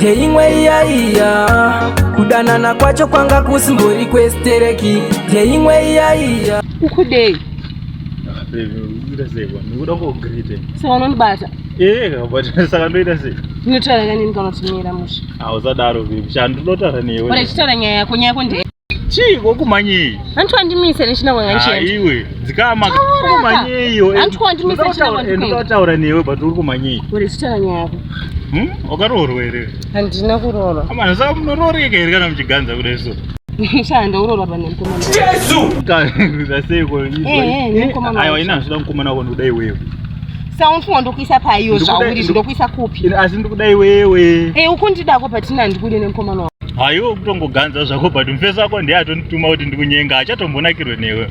Jeimwe iya iya kudanana kwacho kwanga kusimbori kwestereki Jeimwe iya iya ukudei saka unondibata eh, saka ndoita sei ndinotaura kanini kana usimira musha hausadaro bebshandinotaura newe ndinotaura nyaya yako nyaya yako ndee Chii kokumanyei? Hanti wandimise nechina kwanga ndichienda. Haiwe, dzikama kokumanyei iwe. Hanti wandimise nechina kwanga ndichienda. Ndinotaura newe but uri kumanyei? Uri chitana nyaya yako. Hmm? Wakaroorwa here? Handina kuroorwa. Amana saka munorooreka here kana muchiganza kudai so? Shanda uroorwa pane mukomana. Jesu! Kaza seiko izvo. Eh, eh, eh mukomana. Aiwa ina zvida mukomana wako ndodai wewe. Saka unofunga ndokuisa paiyo zvauri zvindokuisa kupi? Asi ndikuda iwewe. Eh, ukundidako patina ndikude nemukomana haiwe kutongoganza zvako but mufesi wako ndiye atondituma kuti ndikunyenga achatombonakirwe newe